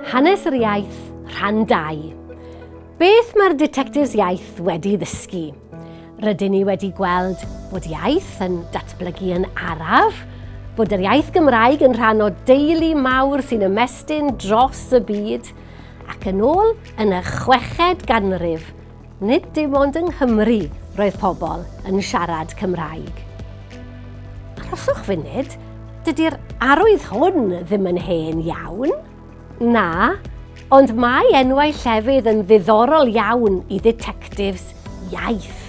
Hanes yr iaith, rhan 2. Beth mae'r Detectives Iaith wedi ddysgu? Rydyn ni wedi gweld bod iaith yn datblygu yn araf, bod yr iaith Gymraeg yn rhan o deulu mawr sy'n ymestyn dros y byd, ac yn ôl yn y chweched ganrif, Nid dim ond yng Nghymru roedd pobl yn siarad Cymraeg. Arhoswch funud, dydy'r arwydd hwn ddim yn hen iawn. Na, ond mae enwau llefydd yn ddiddorol iawn i dditectifs iaith.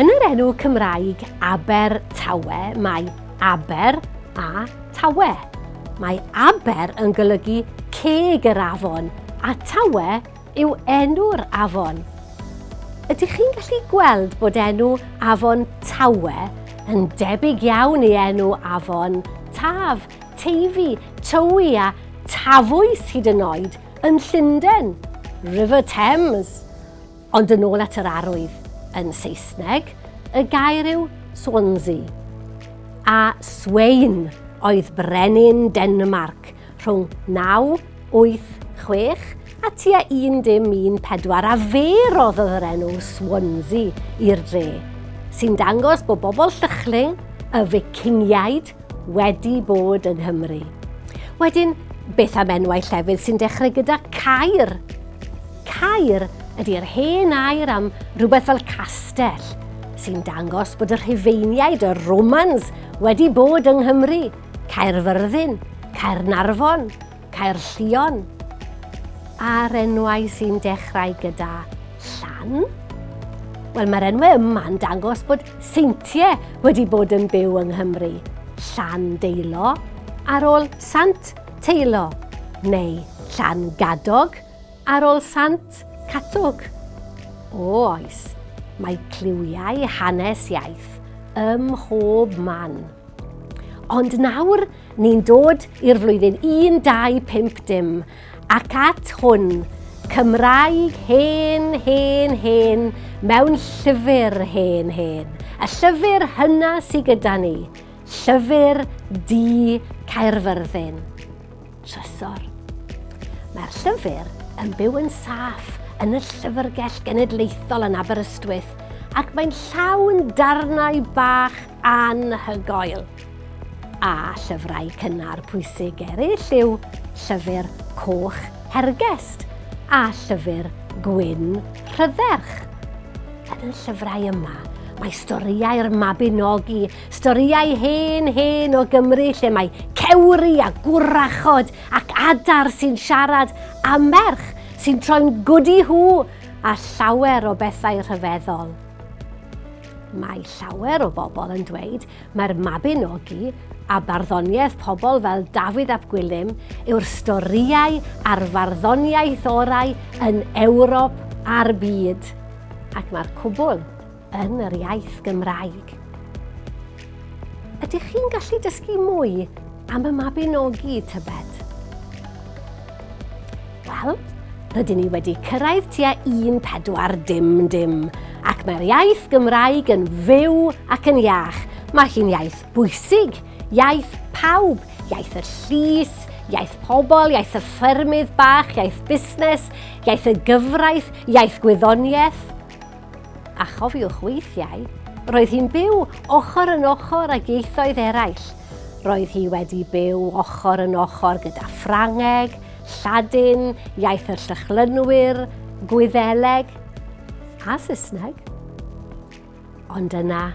Yn yr enw Cymraeg Aber Tawe mae Aber a Tawe. Mae Aber yn golygu ceg yr afon a Tawe yw enw'r afon. Ydych chi'n gallu gweld bod enw afon Tawe yn debyg iawn i enw afon Taf, Teifi, Tywi a Tafwys hyd yn oed yn Llundain, River Thames. Ond yn ôl at yr arwydd yn Saesneg, y gair yw Swansea. A Swain oedd brenin Denmarc rhwng 9 Wyth, chwech a tua un dim un pedwar a fe roddodd yr enw Swansea i'r dre, sy'n dangos bod bobl Llychling, y Ficingiaid, wedi bod yng Nghymru. Wedyn, beth am enwau llefydd sy'n dechrau gyda Caer? Caer ydy'r hen air am rhywbeth fel castell, sy'n dangos bod y Rhufeiniaid, y Romans, wedi bod yng Nghymru. Caerfyrddin, Caernarfon, Caerllion, a'r enwau sy'n dechrau gyda llan? Wel, mae'r enwau yma'n dangos bod seintiau wedi bod yn byw yng Nghymru. Llan Deilo, ar ôl Sant Teilo, neu Llan Gadog, ar ôl Sant Catwg. O oes, mae cliwiau hanes iaith ym mhob man. Ond nawr, ni'n dod i'r flwyddyn 1250 dim, ac at hwn, Cymraeg hen, hen, hen, mewn llyfr hen, hen. Y llyfr hynna sydd gyda ni, llyfr di Caerfyrddin. Trysor. Mae'r llyfr yn byw yn saff yn y llyfrgell genedlaethol yn Aberystwyth ac mae'n llawn darnau bach anhygoel. A llyfrau cynnar pwysig eraill yw llyfr coch hergest a llyfr gwyn rhydderch. Yn y llyfrau yma, mae storïau'r Mabinogi, storïau hen hen o Gymru lle mae cewri a gwrachod ac adar sy'n siarad a merch sy'n troi'n gwdi hw a llawer o bethau rhyfeddol. Mae llawer o bobl yn dweud mae'r Mabinogi a barddoniaeth pobl fel Dafydd ap Gwilym yw'r storïau a'r farddoniaeth orau yn Ewrop a'r byd, ac mae'r cwbl yn yr iaith Gymraeg. Ydych chi'n gallu dysgu mwy am y Mabinogi, tybed? Wel, rydyn ni wedi cyrraedd tua 14 dim dim, ac mae'r iaith Gymraeg yn fyw ac yn iach. Mae hi'n iaith bwysig, iaith pawb, iaith y llys, iaith pobl, iaith y ffermydd bach, iaith busnes, iaith y gyfraith, iaith gwyddoniaeth, A chofiwch weithiau, roedd hi'n byw ochr yn ochr ag ieithoedd eraill. Roedd hi wedi byw ochr yn ochr gyda Ffrangeg, Lladin, iaith y Llychlynwyr, Gwyddeleg a Saesneg. Ond yna,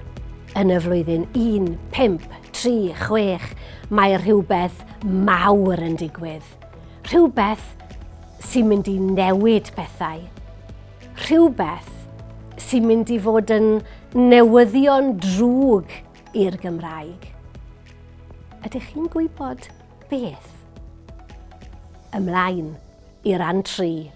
yn y flwyddyn 1536, mae rhywbeth mawr yn digwydd. Rhywbeth sy'n mynd i newid pethau. Rhywbeth sy'n mynd i fod yn newyddion drwg i'r Gymraeg. Ydych chi'n gwybod beth? Ymlaen i ran 3.